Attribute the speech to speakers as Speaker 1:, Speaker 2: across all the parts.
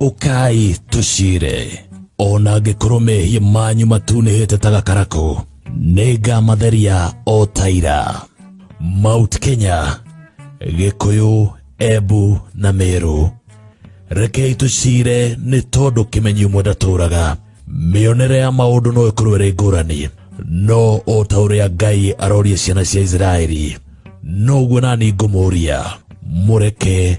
Speaker 1: ũkai tũcire o na angĩkorwo mehia manyu matunĩhĩte ta gakarakũ nĩ ngamatheria o taira mount kenya gĩkũyũ embu na mĩrũ rekei tũcire nĩ tondũ kĩmenyi ũmwe ndatũraga mĩonere ya maũndũ no ĩkorwo ĩrĩ ngũrani no o ta ũrĩa ngai aroria ciana cia isiraeli noguo nani ngũmũria mũreke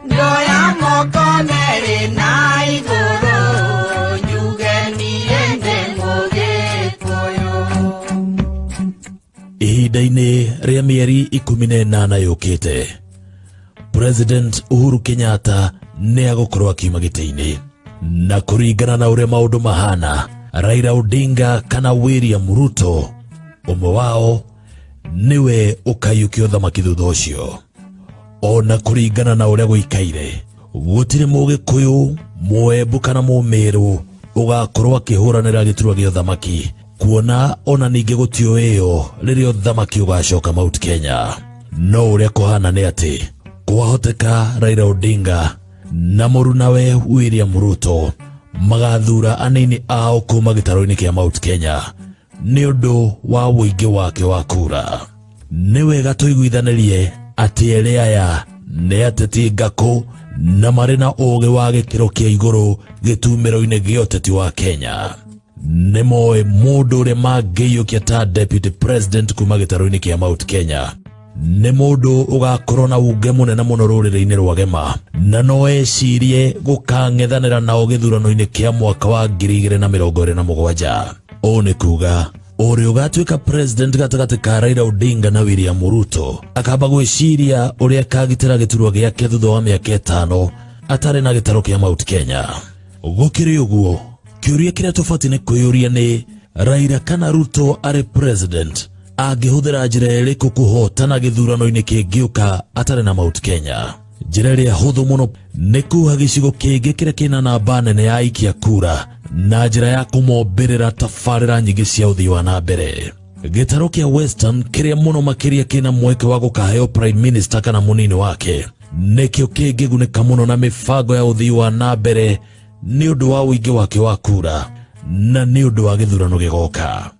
Speaker 2: Ndoya moko merĩ na igũrũ njuge niĩ ndĩ
Speaker 1: mũgĩkũyũ. ihinda-inĩ rĩa mĩeri ikũmi na ĩnana yũkĩte president uhuru kenyatta nĩ agũkorwo akiuma gĩtĩ-inĩ na kũringana na ũrĩa maũndũ mahana raila odinga kana william ruto ũmwe wao nĩwe ũkaiyũkia ũthamaki thutha ũcio o na kũringana na ũrĩa gũikaire gũtirĩ mũgĩkũyũ mũembu kana mũmĩrũ ũgakorwo akĩhũranĩra gĩturwa gĩa ũthamaki kuona ona ningĩ gũtiũĩo rĩrĩa ũthamaki ũgacoka mount kenya no ũrĩa kũhana nĩ atĩ kwahoteka raira odinga na mũrunawe william ruto magathura anini ao kuma gĩtarũ-inĩ kĩa mount kenya nĩ ũndũ wa ũingĩ wake wa kura nĩ wega tũiguithanirie atĩ erĩ aya nĩ ateti ngakũ na marĩ na ũũgĩ wa gĩkĩro kĩa igũrũ gĩtumĩro-inĩ gĩa ũteti wa kenya nĩ moĩ mũndũ ũrĩa mangĩiyũkia ta deputy president kuma gĩtarũ-inĩ kĩa mount kenya nĩ mũndũ ũgakorwo na unge mũnene mũno rũrĩrĩ-inĩ rwa gema na no ecirie gũkang'ethanĩra nao gĩthurano-inĩ kĩa mwaka wa ngiri igĩrĩ na mĩrongo ĩrĩ na mũgwanja ũũ nĩ kuga ũrĩa ũgatuĩka president gatagatĩ ka Raila Odinga na William Ruto akamba gwĩciria ũrĩa akagitĩra gĩturwa gĩake thutha wa mĩaka ĩtano atarĩ na gĩtaro kĩa Mount Kenya gũkĩrĩ ũguo kĩũria kĩrĩa tũbatiĩ nĩ kwĩyũria nĩ Raila kana Ruto arĩ president angĩhũthĩra njĩra ĩrĩkũ kũhotana gĩthurano-inĩ kĩngĩũka atarĩ na Mount Kenya njĩra ĩrĩa hũthũ mũno nĩ kuha gĩcigo kĩngĩ kĩrĩa kĩna namba nene ya aikia kura na njĩra ya kũmombĩrĩra tabarĩra nyingĩ cia ũthii wa na mbere gĩtarũ kĩa western kĩrĩa mũno makĩria kĩna mweke wa gũkaheo prime minister kana mũnini wake nĩkĩo kĩngĩgunĩka mũno na mĩbango ya ũthii wa na mbere nĩ ũndũ wa ũingĩ wake wa kura na nĩ ũndũ wa gĩthurano gĩgoka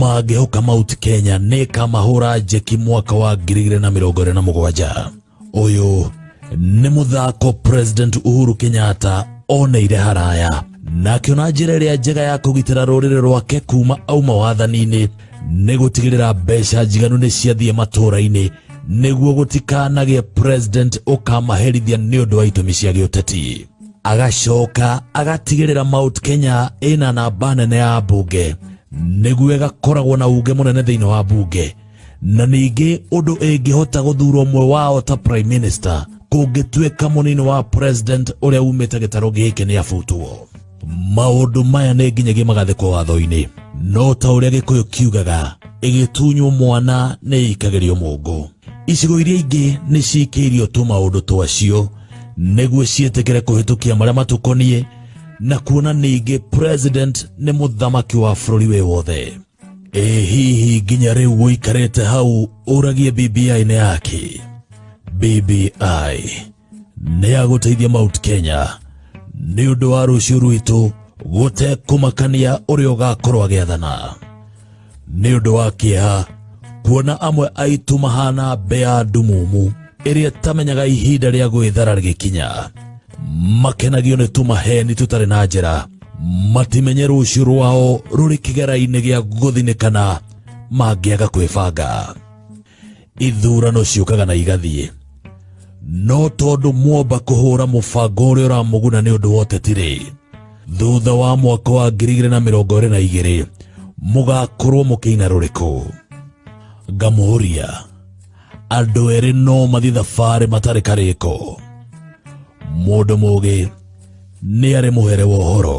Speaker 1: mangĩhoka mount kenya nĩ kamahũra njeki mwaka wa ngiri igĩrĩ na mĩrongo ĩrĩ na mũgwanja ũyũ nĩ mũthako president uhuru kenyatta oneire haraya na akĩona njĩra ĩrĩa njega ya kũgitĩra rũrĩrĩ rwake kuma auma wathani-inĩ nĩ gũtigĩrĩra mbeca njiganu nĩ ciathiĩ matũũra-inĩ nĩguo gũtikanagĩe president ũkamaherithia nĩ ũndũ wa itũmi cia gĩũteti agacoka agatigĩrĩra Mount Kenya ĩna namba nene ya mbunge nĩguo ĩgakoragwo na unge mũnene thĩinĩ wa mbunge na ningĩ ũndũ ĩngĩhota gũthurwo ũmwe wao ta prime minister kũngĩtuĩka mũnini wa president ũrĩa umĩte gĩtarũ gĩkĩ nĩ abutwo maũndũ maya nĩ nginyagia magathĩkwo watho-inĩ no ta ũrĩa gĩkũyũ kiugaga ĩgĩtunywo mwana nĩ ĩikagĩrio mũngũ Icigo iria ingĩ nĩ ciĩkĩirio tũ maũndũ twacio nĩguo ciĩtĩkĩre kũhĩtũkia marĩa matũkoniĩ na kuona ningĩ president nĩ mũthamaki wa bũrũri wĩ wothe. Ĩ hihi nginya rĩu gũikarĩte hau ũragie BBI nĩ yake? BBI nĩ ya gũteithia Mount Kenya nĩ ũndũ wa rũciũ rwitũ gũtekũmakania ũrĩa ũgakorwo agĩathana nĩ ũndũ wa kĩeha kuona amwe aitũ mahana mbea ndumumu ĩrĩa tamenyaga ihinda rĩa gwĩthara rĩgĩkinya makenagio nĩ tũmaheni tũtarĩ na njĩra matimenye rũciũ rwao rũrĩ kĩgera-inĩ gĩa gũthinĩkana mangĩaga kwĩbanga ithurano ciũkaga na igathiĩ no tondũ mwomba kũhũra mũbango ũrĩa ũramũguna nĩ ũndũ wa ũteti-rĩ thutha wa mwaka wa 2022 mũgakorwo mũkĩina rũrĩkũ ngamũria andũ erĩ no mathiĩ thabarĩ matarĩ karĩko mũndũ mũgĩ nĩ arĩ mũhere wa ũhoro